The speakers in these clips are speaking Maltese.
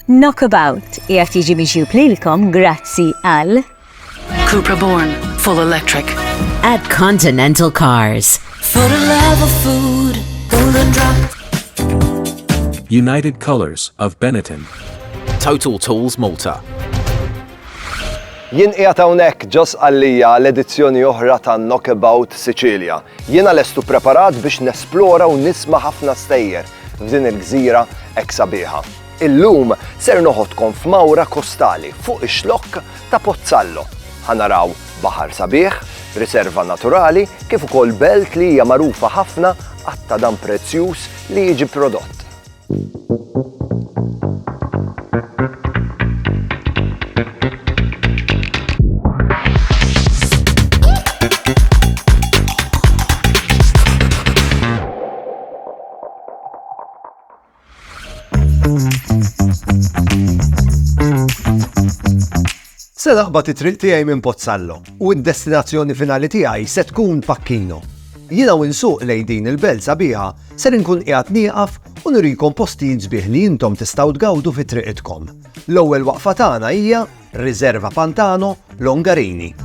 Knockabout qiegħed jiġi miġjub lilkom grazzi għal Cupra Born, full electric. At Continental Cars. For the love of food, golden drop. United Colors of Benetton. Total Tools Malta. Jien qiegħed hawnhekk ġos għalija l-edizzjoni oħra ta' Knockabout Sicilia. Jiena lestu preparat biex nesplora u nisma' ħafna stejjer. f'din il-gżira hekk sabiħa. Illum ser noħodkom f'mawra kostali fuq ix-xlokk ta' Pozzallo. Ħa naraw baħar sabiħ, riserva naturali kif ukoll belt li hija magħrufa ħafna għat-tadam prezzjuż li jiġi prodott. Se naħbat it-triq tiegħi minn Pozzallo u d-destinazzjoni finali tiegħi se tkun Pakkino. Jiena u nsuq lej din il-belt sabiħa se nkun qiegħed nieqaf u nurikom postijiet sbieħ li intom tistgħu tgawdu fi triqitkom. L-ewwel waqfa tagħna hija Riserva Pantano Longarini.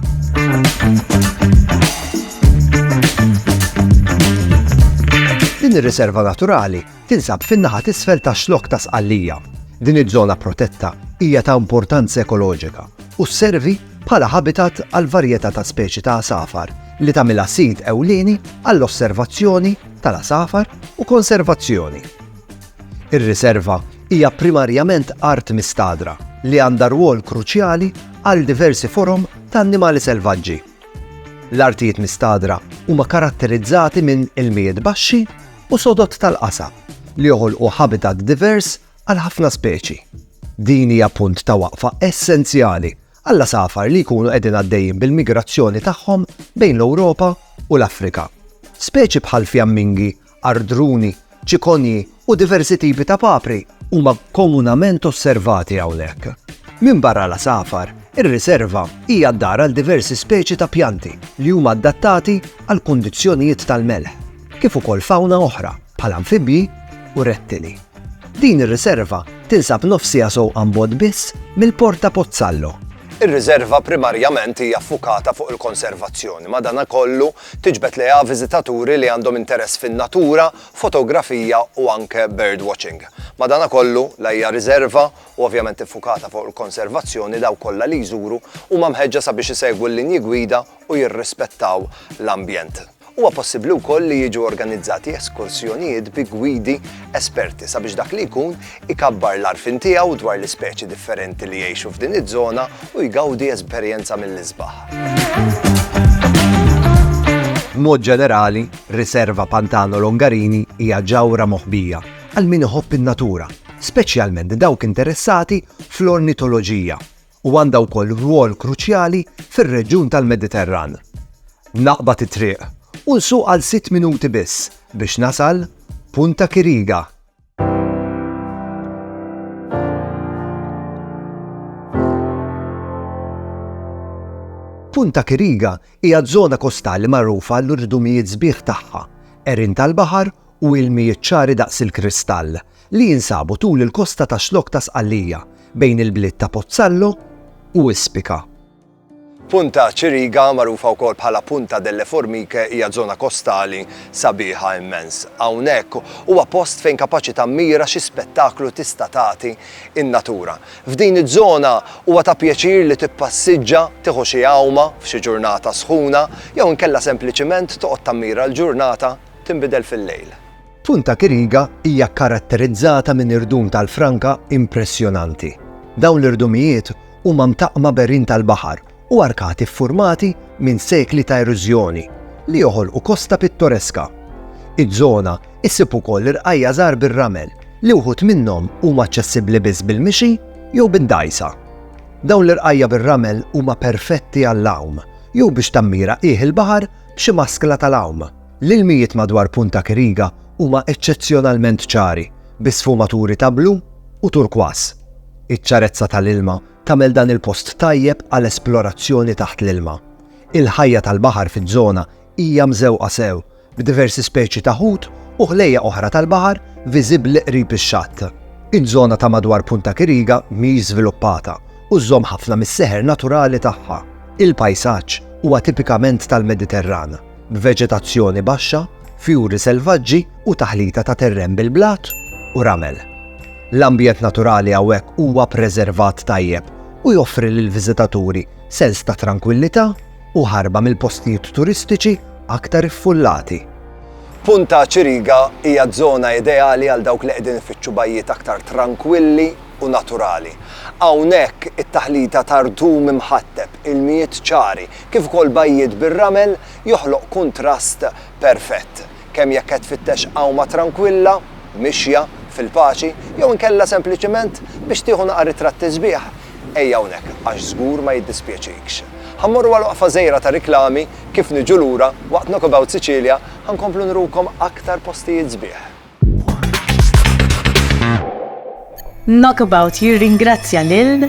Din ir-riserva naturali tinsab fin-naħa t'isfel tax-xlokk ta' Sqallija. Din iż-żona protetta hija ta' importanza ekoloġika u sservi bħala habitat għal varjetà ta' speċi ta' għasafar li tagħmilha sit ewlieni għall-osservazzjoni tal-għasafar u konservazzjoni. Ir-riserva hija primarjament art mistagħdra li għandha rwol kruċjali għal diversi forom ta' annimali selvaġġi. L-artijiet mistagħdra huma karatterizzati minn ilmijiet baxxi u sodod tal-qasab li joħolqu ħabitat divers għal ħafna speċi. Din hija punt ta' waqfa essenzjali għall-għasafar li jkunu qegħdin għaddejjin bil-migrazzjoni tagħhom bejn l-Ewropa u l-Afrika. Speċi bħal fjammingi Ardruni, ċikonji u diversi tipi ta' papri huma komunament osservati hawnhekk. Minbarra l-għasafar, ir-riserva hija d-dar għal diversi speċi ta' pjanti li huma adattati għal kundizzjonijiet tal-melħ, kif ukoll fawna oħra bħal anfibji u rettili. Din ir-riserva tinsab nofs siegħa sewqan bogħod biss mill-Port ta' Pozzallo. Ir-riserva primarjament hija ffukata fuq il-konservazzjoni, madankollu Tiġbed lejha viżitaturi li għandhom interess fin-natura, fotografija u anke birdwatching. Madanakollu, la hija riżerva u ovvjament iffukata fuq il-konservazzjoni, dawk kollha li jżuru huma mħeġġa sabiex isegwu l-linji gwida u jirrispettaw l-ambjent. Huwa possibbli wkoll li jiġu organizzati eskursjonijiet bi gwidi esperti sabiex dak li jkun ikabbar l-għarfien tiegħu dwar l-ispeċi differenti li jgħixu f'din iż-żona u jgawdi esperjenza mill-isbaħ. B'mod ġenerali, Riserva Pantano Longarini hija ġawhra moħbija għal min iħobb in-natura, speċjalment dawk interessati fl-ornitoloġija, u għandha wkoll rwol kruċjali fir-reġjun tal-Mediterran. Naqbad it-triq u nsuq għal sitt minuti biss biex nasal Punta Kiriga, Punta Kiriga hija żona kostali magħrufa għall-urdumijiet sbieħ tagħha, għerien tal-baħar u ilmijiet ċari daqs il-kristall, li jinsabu tul il-kosta tax-Xlokk ta' Sqallija, bejn il-bliet ta' Pozzallo u Ispica. Punta Ciriga, magħrufa wkoll bħala Punta delle Formiche, hija żona kostali sabiħa immens. Hawnhekk huwa post fejn kapaċi tammira xi spettaklu tista' tagħti n-natura. F'din iż-żona huwa ta' pjaċir li tippassiġġa, tieħu xi għawma f'xi ġurnata sħuna, jew inkella sempliċiment toqgħod tammira l-ġurnata tinbidel fil-lejl. Punta Kiriga hija kkaratterizzata minn irdum tal-franka impressjonanti. Dawn l-irdumijiet huma mtaqqma b'għerien tal-baħar u arkati ffurmati minn sekli ta' erużjoni li joħolqu kosta pittoreska. Iż-żona issib ukoll irqajja' żgħar bir-ramel li wħud minnhom huma aċċessibbli biss bil-mixi jew bid-dgħajsa. Dawn l-irqajja' bir-ramel huma perfetti għall-għawm jew biex tammira qiegħ il-baħar b'xi maskla tal-għawm. L-ilmijiet madwar Punta Kiriga huma eċċezzjonalment ċari, bi sfumaturi ta' blu u turkwas. Iċ-ċarezza tal-ilma tagħmel dan il-post tajjeb għal esplorazzjoni taħt l-ilma. Il-ħajja tal-baħar fiż-żona hija mżewqa sew, b'diversi speċi ta' ħut u ħlejjaq oħra tal-baħar viżibbli qrib ix-xatt. Iż-żona ta' madwar Punta Kiriga mhix żviluppata u żżomm ħafna mis-seħer naturali tagħha. Il-pajsaġġ huwa tipikament tal-Mediterran. b'veġetazzjoni baxxa, fjuri selvaġġi u taħlita ta' terren bil-blat u ramel. L-ambjent naturali hawnhekk huwa preservat tajjeb u joffri lill-viżitaturi sens ta' trankwillità u ħarba mill-postijiet turistiċi aktar iffullati. Punta Chiriga hija ż-żona ideali għal dawk li qegħdin ifittxu bajjiet aktar trankwilli u naturali. Hawnhekk, it-taħlita ta' rtum imħatteb, ilmijiet ċari, kif ukoll bajjiet bir-ramel joħloq kuntrast perfett, kemm jekk qed tfittex għawma trankwilla, mixja, fil-paċi, jew inkella sempliċement biex tieħu naqar ritratti sbieħ, ejja hawnhekk għax żgur ma jiddispjaċikx. Ħa mmorru għal waqfa żgħira ta' riklami, kif niġu lura, waqt Knock About Sicilia, ħa nkomplu nurukom aktar postijiet sbieħ. Knockabout jirringrazzja lil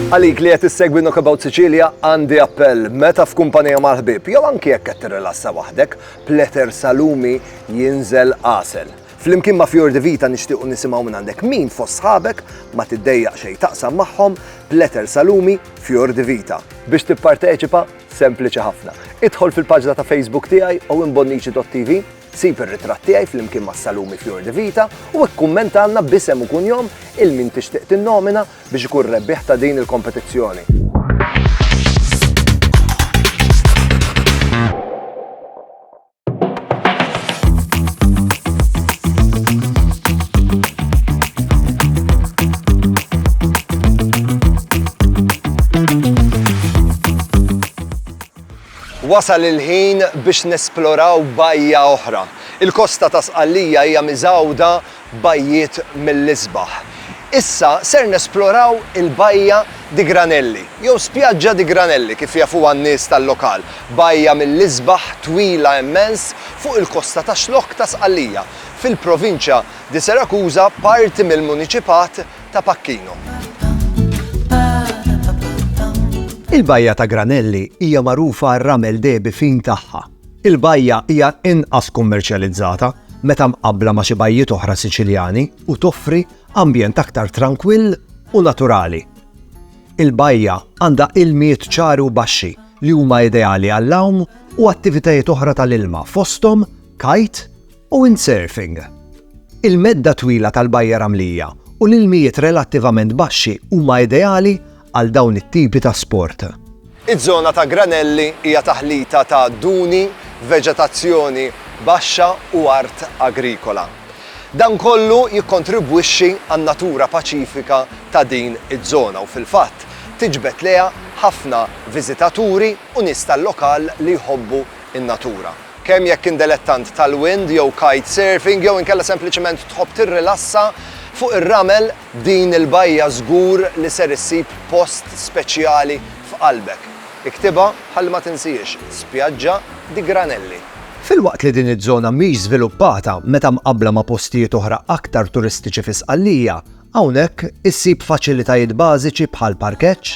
Għalik li qed issegwi Knockabout Sicilia għandi appell meta f'kumpanija mal-ħbib jew anki jekk qed tirrilassa waħdek, pletter salumi jinżel qasel. Flimkien ma' Fior di Vita nixtiequ nisimgħu minn għandek min fost sħabek ma tiddejjaq xejn taqsam magħhom b'letter Salumi Fior di Vita. Biex tipparteċipa, sempliċi ħafna. Idħol fil-paġna ta' Facebook tiegħi owenbonnici.tv, sib ir-ritratt tiegħi flimkien ma' Salumi Fior di Vita u ikkummentalna b'isem u kunjom il min tixtieq tinnomina biex ikun rebbieħ ta' din il-kompetizzjoni. Wasal il-ħin biex nesploraw bajja oħra. Il-kosta ta' Sqallija hija miżgħuda bajjiet mill-isbaħ. Issa ser nesploraw il-Bajja di Granelli, jew Spiaggia di Granelli kif jafuha n-nies tal-lokal, bajja mill-isbaħ twila immens fuq il-kosta ta' Xlokk ta' Sqallija, fil-Provinċja di Serakuża, parti mill-Muniċipat ta' Pacchino. Il-Bajja ta' Granelli hija magħrufa għar-ramel dehbi fin tagħha. Il-bajja hija inqas kummerċjalizzata meta mqabbla ma' xi bajjiet oħra Siċiljani u toffri ambjent aktar trankwill u naturali. Il-bajja għandha ilmijiet ċari u baxxi li huma ideali għall-għawm u attivitajiet oħra tal-ilma fosthom kite u windsurfing. Il-medda twila tal-bajja ramlija u l-ilmijiet relattivament baxxi huma ideali għal dawn it-tipi ta' sport. Iż-żona ta' Granelli hija taħlita ta' duni, veġetazzjoni baxxa u art agrikola. Dan kollu jikkontribwixxi għan-natura paċifika ta' din iż-żona u fil-fatt tiġbed lejha ħafna viżitaturi u nies tal-lokal li jħobbu n-natura. Kemm jekk int delettant tal-wind jew kite surfing jew inkella sempliċement tħobb tirrilassa fuq ir-ramel, Din il-bajja żgur li ser issib post speċjali f'qalbek. Iktibha ħalli ma tinsiex, Spiaggia di Granelli. Filwaqt li din iż-żona mhix żviluppata meta mqabbla ma' postijiet oħra aktar turistiċi fi Sqallija, hawnhekk issib faċilitajiet bażiċi bħal parkeġġ,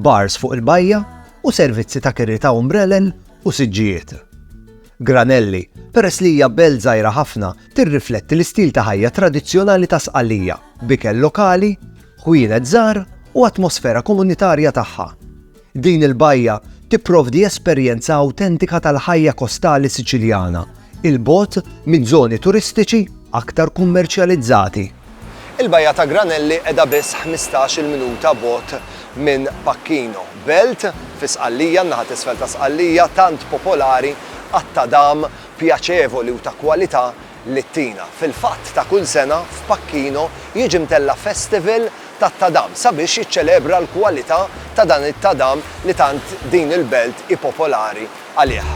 bars fuq il-bajja u servizzi ta' kiri ta' umbrellen u siġġijiet. Granelli, peress li hija belt żgħira ħafna, tirrifletti l-istil ta' ħajja tradizzjonali ta' Sqallija, b'ikel lokali, ħwienet żgħar u atmosfera komunitarja tagħha. Din il-bajja tipprovdi esperjenza awtentika tal-ħajja kostali Siċiljana, 'il bogħod minn żoni turistiċi aktar kummerċjalizzati. Il-bajja ta' Granelli qiegħda biss ħmistax-il minuta bogħod minn Pacchino, belt fi Sqallija, n-naħa t'isfel ta' Sqallija, tant popolari għat-tadam pjaċevoli u ta' kwalità li ttina. Fil-fatt, ta' kull sena, f'Pacchino jiġi mtella' festival tat-tadam sabiex jiċċelebra l-kwalità ta' dan it-tadam li tant din il-belt hi popolari għalih.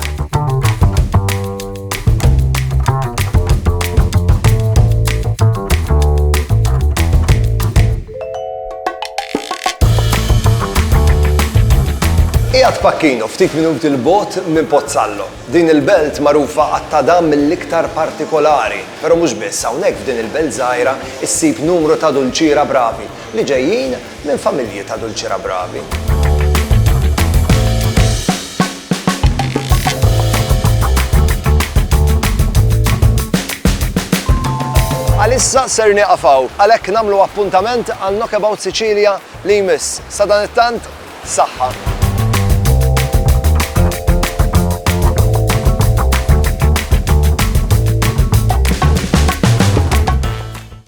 Qiegħed Pacchino, ftit minuti l-bogħod minn Pozzallo. Din il-belt magħrufa għat-tada mill-iktar partikolari, però mhux biss hawnhekk f'din il-belt żgħira issib numru ta' dulċiera bravi li ġejjin minn familji ta' dulċira bravi. Għalissa ser nieqaf hawn, għalhekk nagħmlu appuntament għal Knockabout Sicilia li jmiss. Sa dan it-tant, saħħa.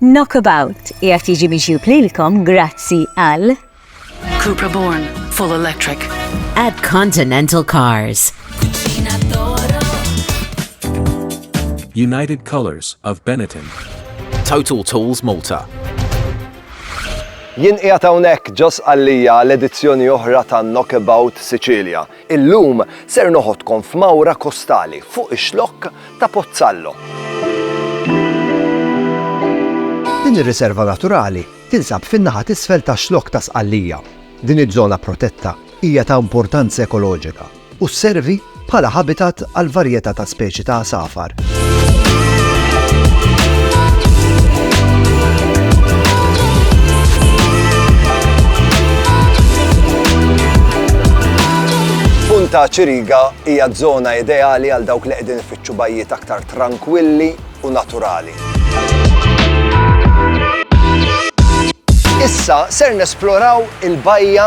Knockabout qiegħed jiġi miġjub lilkom grazzi għal. Cupra Born, full electric. At Continental Cars. United Colors of Benetton. Total Tools Malta. Jien qiegħed hawnhekk ġo Sqallija għal edizzjoni oħra ta' Knockabout Sicilia. Illum ser noħodkom f'mawra kostali fuq ix-xlokk ta' Pozzallo. Din ir-riserva naturali tinsab fin-naħa t'isfel tax-Xlokk ta' Sqallija. Din iż-żona protetta hija ta' importanza ekoloġika u sservi bħala habitat għal varjetà ta' speċi ta' għasafar. ta' Ċiriga hija żona ideali għal dawk li qegħdin ifittxu bajjiet aktar trankwilli u naturali. Issa ser nesploraw il-bajja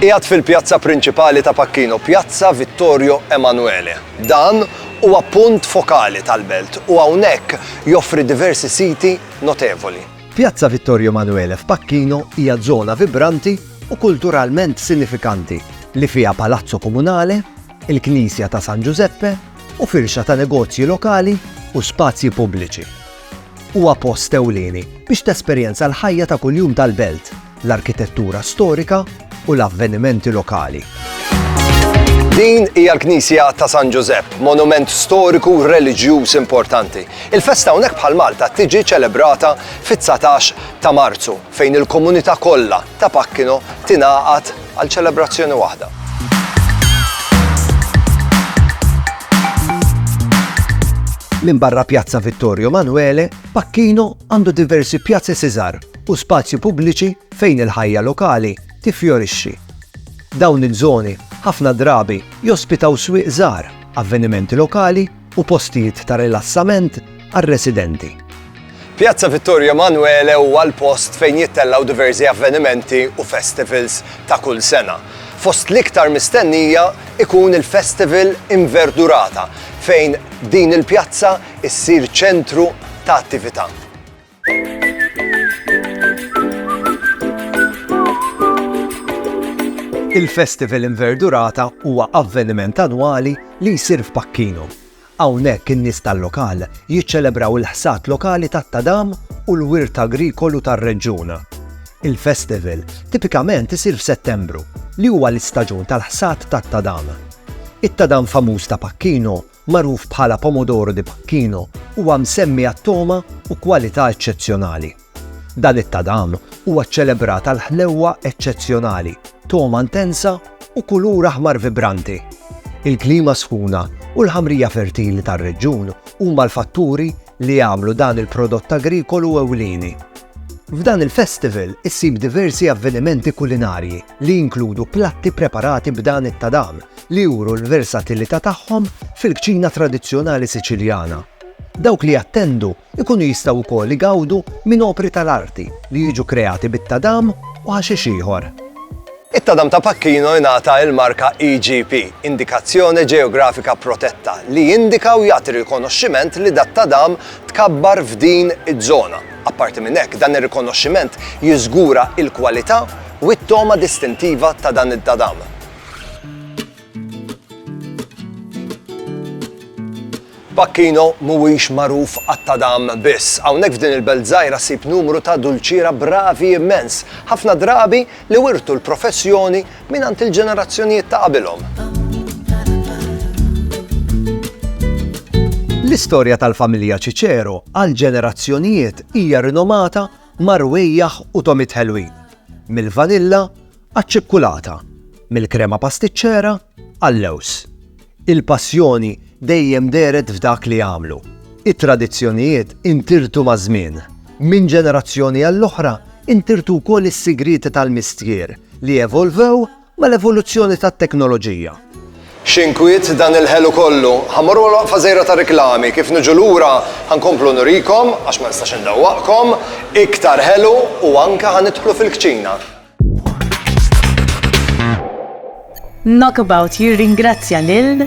Qiegħed fil-pjazza prinċipali ta' Pacchino, Pjazza Vittorio Emanuele. Dan huwa punt fokali tal-belt u hawnhekk joffri diversi siti notevoli. Pjazza Vittorio Emanuele f'Pacchino hija żona vibranti u kulturalment sinifikanti li fiha Palazzo Comunale, il-Knisja ta' San Giuseppe u firxa ta' negozji lokali u spazji pubbliċi. Huwa post ewlieni biex tesperjenza l-ħajja ta' kuljum tal-belt, l-arkitettura storika u l-avvenimenti lokali. Din hija l-Knisja ta' San Ġużepp, monument storiku reliġjuż importanti. Il-festa hawnhekk bħal Malta tiġi ċelebrata fit-19 ta' Marzu, fejn il-komunità kollha ta' Pakkino tingħaqad għal ċelebrazzjoni waħda. Minn barra Pjazza Vittorio Manuele, Pakkino għandu diversi pjazzi siżar u spazji pubbliċi fejn il-ħajja lokali tiffjorixxi. Dawn iż-żoni ħafna drabi jospitaw swieq żgħar, avvenimenti lokali u postijiet ta' rilassament għar-residenti. Pjazza Vittorio Emanuele huwa l-post fejn jittellgħu diversi avvenimenti u festivals ta' kull sena. Fost l-iktar mistennija ikun il-Festival Inverdurata fejn din il-pjazza issir ċentru ta' attività. Il-Festival Inverdurata huwa avveniment annwali li jsir f'Pacchino. Hawnhekk in-nies tal-lokal jiċċelebraw il-ħsad lokali tat-tadam u l-wirt agrikolu tar-reġjun. Il-festival tipikament isir f'Settembru, li huwa l-istaġun tal-ħsad tat-tadam. It-tadam famuż ta' Pacchino magħruf bħala Pomodoro di Pacchino, huwa msemmi għat-togħma u kwalità eċċezzjonali. Dan it-tadam huwa ċċelebrat għal ħlewwa eċċezzjonali, togħma intensa u kulur aħmar vibranti. Il-klima sħuna u l-ħamrija fertili tar-reġjun huma l-fatturi li jagħmlu dan il-prodott agrikolu ewlieni. F'dan il-festival issib diversi avvenimenti kulinarji li jinkludu platti preparati b'dan it-tadam li juru l-versatilità tagħhom fil-kċina tradizzjonali Siċiljana. Dawk li jattendu jkunu jistgħu wkoll igawdu minn opri tal-arti li jiġu kreati bit-tadam u ħaxix ieħor. It-tadam ta' Pacchino jingħata l-marka IGP, Indicazione Geografica Protetta, li jindika u jagħti rikonoxximent li dat-tadam tkabbar f'din iż-żona. Apparti minn hekk, dan ir-rikonoxximent jiżgura l-kwalità u t-togħma distintiva ta' dan it-tadam. Pacchino mhuwiex magħruf għat-tadam biss. Hawnhekk f'din il-belt żgħira ssib numru ta' dulċiera bravi immens, ħafna drabi li wirtu l-professjoni mingħand il-ġenerazzjonijiet ta' qabilhom. L-istorja tal-familja Cicero għal ġenerazzjonijiet hija rinomata ma' rwejjaħ u tomit ħelwin, mill-vanilla Għaċ-ċikkulata, mill-krema pastiċċera għal-lewż, il-passjoni dejjem dehret f'dak li jagħmlu. It-tradizzjonijiet intirtu maż-żmien. Minn ġenerazzjoni għall-oħra intirtu wkoll is-sigrieti tal-mistier li evolvew mal-evoluzzjoni tat-teknoloġija. X'inkwiet dan il-ħelu kollu! Ħa mmorru għal waqfa żgħira ta' riklami, kif niġu lura ħa nkomplu nurikom, għax ma nistax indawwaqkom, iktar ħelu u anke ħa nidħlu fil-kċina. Knockabout jirringrazzja lil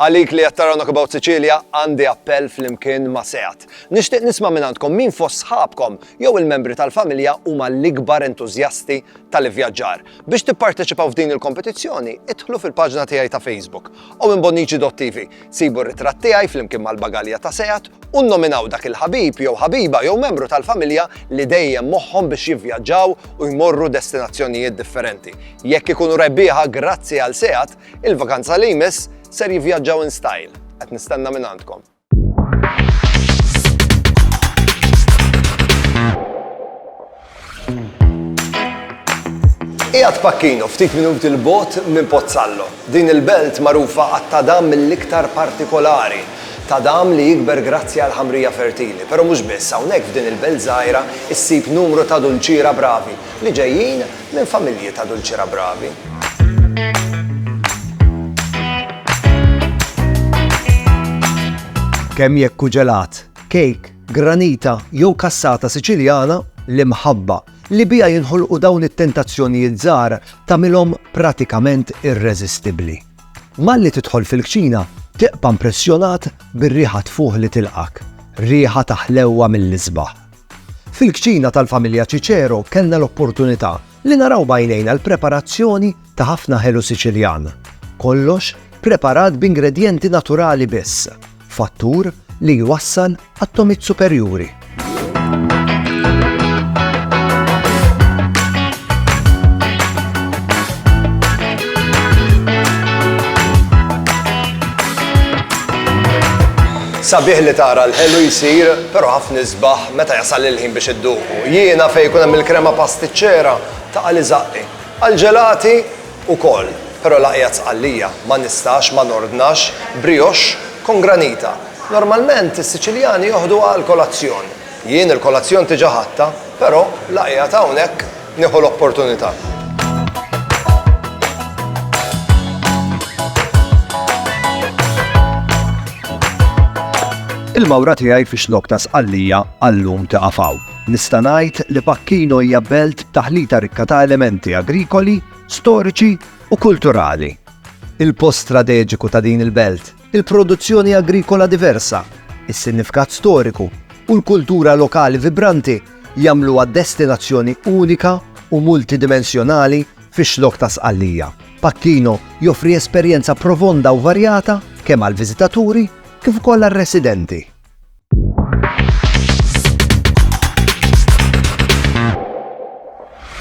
Għalik li jattara Knockabout Sicilia għandi appell fl-imkien ma' seat. Nishtiq nisma minn għandkom min fost sħabkom jew il-membri tal-familja huma l-ikbar entuzjasti tal-ivjaġġar. Biex tipparteċipaw f'din il-kompetizzjoni, idħlu fil-paġna tiegħi ta' Facebook u minn Bonnici Dottivi. Sibu r-ritratt tiegħi flimkien mal-bagalja ta' Seat u nnominaw dak il-ħabib jew ħabiba jew membru tal-familja li dejjem moħħhom biex jivvjaġġaw u jmorru destinazzjonijiet differenti. Jekk ikunu rebbieħa grazzi għal Seat, il-vakanza li jmiss ser jivvjaġġaw in style. Qed nistenna minn għandkom. Qiegħed Pacchino, ftit minuti l bogħod minn Pozzallo. Din il-belt magħrufa għat-tadam mill-iktar partikolari, tadam li jikber grazzi għal ħamrija fertili. Però mhux biss, hawnhekk f'din il-belt żgħira ssib numru ta' dulċiera bravi li ġejjin Minn familji ta' dulċira bravi. Kemm jekk hu ġelat, kejk, granita jew kassata Siċiljana, l-imħabba li biha jinħolqu dawn it-tentazzjonijiet żgħar tagħmilhom pratikament irreżistibbli. Malli tidħol fil-kċina, tibqa' mpressjonat bir-riħa tfuħ li tilqgħek, riħa ta' ħlewwa mill-isbaħ. Fil-kċina tal-familja Cicero kellna l-opportunità li naraw b'għajnejna l-preparazzjoni ta' ħafna ħelu Siċiljan. Kollox preparat b'ingredjenti naturali biss, fattur li jwassal għat-tomit superjuri. Sabiħ li tara l-ħelu jsir Però ħafna isbaħ meta jasal il-ħin biex idduqu. Jiena fejn ikun hemm il-krema pastiċċera taqa' li żaqqi. Għall-ġelati ukoll, però l-aqja t'Sqallija, ma nistax ma nordnax brioche con granita. Normalment is-Siċiljani joħduha għall-kolazzjon. Jien il-kolazzjon tiġa ħadtha, però l-aqja t'hawnhekk. Nieħu l-opportunità. Il-mawra tiegħi fi xlok ta' sqallija għallum ta' għafaw. Nista' ngħid li Pakkino hija belt taħlita rikka ta' elementi agrikoli, storiċi u kulturali. Il-post strateġiku ta' din il-belt Il-produzzjoni agrikola diversa, is-sinifkat storiku u l-kultura lokali vibranti jagħmluha destinazzjoni unika u multidimensjonali fix-Xlokk ta' Sqallija. Pacchino joffri esperjenza profonda u varjata kemm għall-viżitaturi kif ukoll għar-residenti.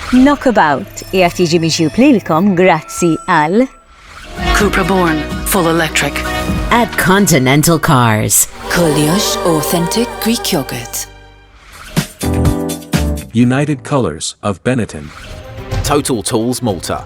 Knockabout qiegħed jiġi miġjub lilkom grazzi għal Cupra Born Full Electric at Continental Cars. Koljox Authentic Greek Yogurt. United Colors of Benetton. Total Tools Malta.